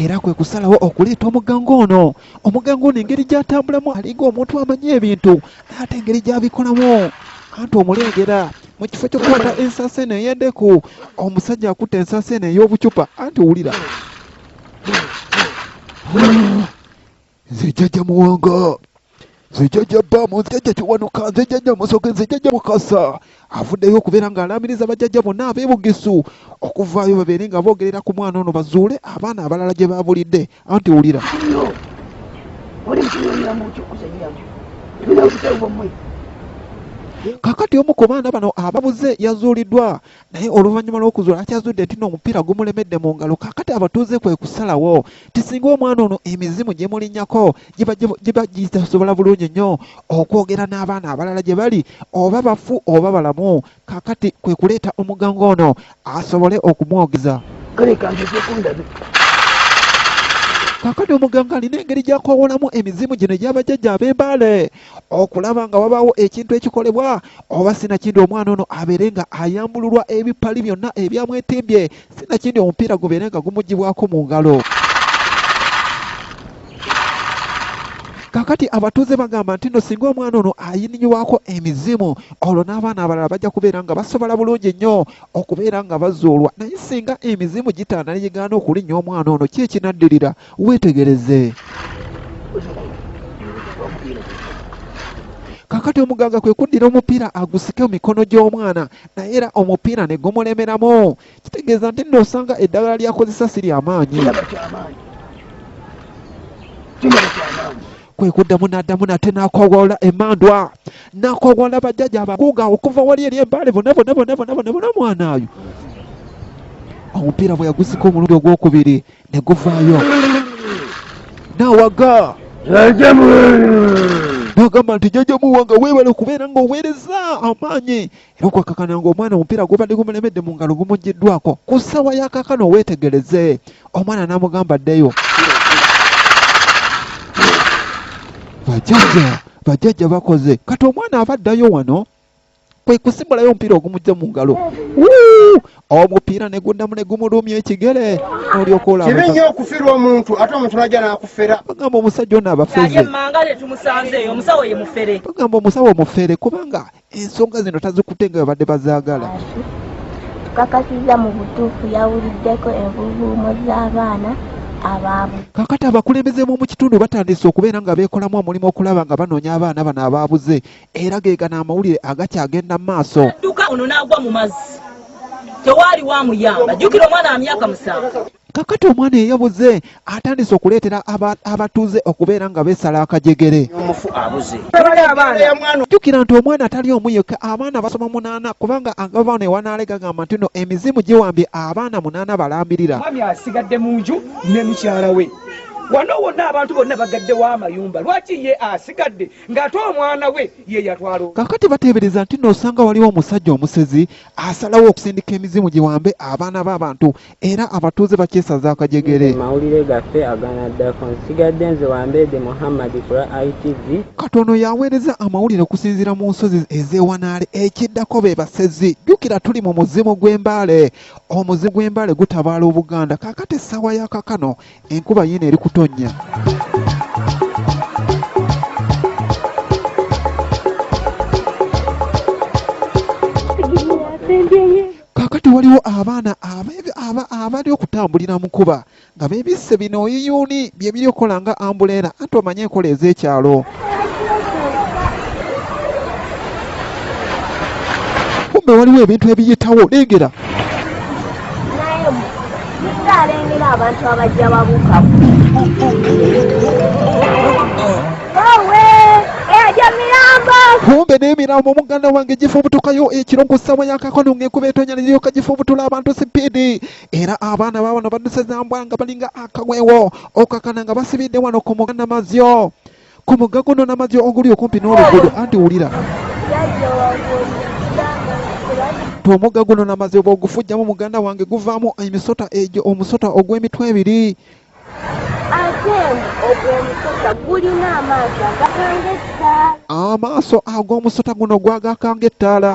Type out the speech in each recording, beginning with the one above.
era kwe kusalawo okuleeta omuganga ono omuganga ono engeri gy'atambulamu alinga omuntu amanyi ebintu naye ate engeri gy'abikolamu anti omuleegera mu kifo ky'okukwata ensasi eno ey'endeku omusajja akutte ensasi eno ey'obucupa anti wulira nze jjajja muwanga nze jjajja baamu nze jjajja kiwanuka nze jjajja musoke nze jjajja mukasa avuddeyo okubeera ng'alaamiriza bajjajja bonna abeebugisu okuvaayo babeere nga boogerera ku mwana ono bazuule abaana abalala gye baabulidde anti wulira kakati omu ku baana bano ababuze yazuuliddwa naye oluvannyuma lw'okuzuula akyazudde nti no omupiira gumulemedde mu ngalo kakati abatuuze kwe kusalawo ti singa omwana ono emizimu gye mulinyako giba gitasobola bulungi nnyo okwogera n'abaana abalala gye bali oba bafu oba balamu kakati kwe kuleeta omuganga ono asobole okumwogeza kakati omuganga alina engeri gy'akwawulamu emizimu gino egy'abajjajja ab'embaale okulaba nga wabaawo ekintu ekikolebwa oba sinakindi omwana ono abeere nga ayambululwa ebipali byonna ebyamwetimbye sinakindi omupiira gubeere nga gumugibwako mu ngalo kakati abatuuze bagamba nti no singa omwana ono ayininyibwako emizimu olwo n'abaana abalala bajja kubeera nga basobola bulungi nnyo okubeera nga bazuulwa naye singa emizimu gitaana ne gigaana okulinnya omwana ono ki ekinaddirira Weetegereze. Kakati omuganga kwe kuddira omupiira agusike mu mikono gy'omwana naye era omupiira ne gumulemeramu. Kitegeeza nti nno osanga eddagala ly'akozesa si lya maanyi. Kwe kuddamu n'addamu nate n'akoowoola emmandwa n'akoowoola bajjaja abaguuga okuva wali eri embaale bona bona bona bona bona bona omwana oyo omupiira bwe yagusika omulundi ogwokubiri ne guvaayo n'awaga n'agamba nti jajja muwanga weebale okubeera ng'oweereza amaanyi era okwakakana ng'omwana omupiira gwobadde gumulemedde mu ngalo gumugiddwako ku ssaawa yakakana oweetegereze omwana n'amugamba ddeyo bajajja bajajja bakoze kati omwana aba addayo wano kwe kusimulayo omupiira ogumujja mu ngalo omupiira ne guddamu ne gumulumya ekigere olyoka olakibi nnyo okufirwa omuntu ate omuntu najja nakufera bagamba omusajja ono abafeze bagamba omusawo omufere kubanga ensonga zino tazikute nga babadde bazaagala tukakasiza mu butuufu yawuliddeko envuvuumo z'abaana abaabu kakati abakulembeze b'omu kitundu batandise okubeera nga beekolamu omulimu okulaba nga banoonya abaana bano abaabuze era gegana amawulire agakyagenda maaso dduka ono n'agwa mu mazzi tewaali wamuyamba jjukira omwana wa myaka musanvu kakati omwana eyabuze atandise okuleetera abatuuze okubeera nga beesala akajegere jjukira nti omwana atali omu yekka abaana basoma munaana kubanga agavaano ewanaale gagamba nti no emizimu giwambye abaana munaana balambirira mwami asigadde mu nju ne mukyala we wano wonna abantu bonna bagaddewo amayumba lwaki ye asigadde ng'ate omwana we ye yatwala. Kaakati bateebereza nti nno osanga waliwo omusajja omusezi asalawo okusindika emizimu giwambe abaana b'abantu era abatuuze bakyesaza akajegere. Mawulire gaffe aganaddako nsigadde nze Wambeede Muhammad ku lwa ITV. Kati ono y'aweereza amawulire okusinziira mu nsozi ez'e Wanaale. Ekiddako be basezi. Jjukira tuli mu muzimu gw'e Mbale. Omuzimu gw'e Mbale gutabaala Obuganda. Kaakati essaawa ya kakano Enkuba yiino eri kutonnya. Kaakati waliwo abaana abali okutambulira mu nkuba nga beebisse bino oyiyuuni bye biri okukola nga ambuleera anti omanyi enkola ez'ekyalo. kumbe waliwo ebintu ebiyitawo leegera alengera abantu abajja babukamu kumbe n'emirambo muganda wange gifa obutukayo ekiro eh, ku ssaawa yakakano ng'enkuba etonya neryoka gifa obutula abantu sipiidi era abaana baabano badusezambwa nga balinga akawewo okakana nga basibidde wano ku muganda mazyo ku mugga guno n'amazzi oguli okumpi n'oluguudo anti wulira omugga guno n'amazzi oba ogufujjamu muganda wange guvaamu emisota egyo omusota ogw'emitwe ebiri amaaso ag'omusota guno gwagakanga ettaala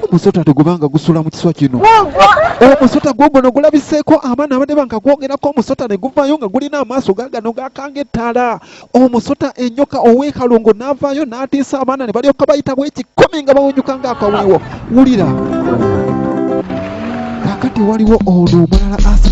omusota tegubanga gusula mu kiswa kino omusota gwo guno gulabiseeko abaana abadde banga gwogerako omusota ne guvaayo nga gulina amaaso gagano gakanga ettaala omusota enyoka ow'ekalongo n'avaayo n'atiisa abaana ne balyoka bayitawo ekikumi nga bawunyuka ng'akaweewo wulira kakati waliwo ono omulala asa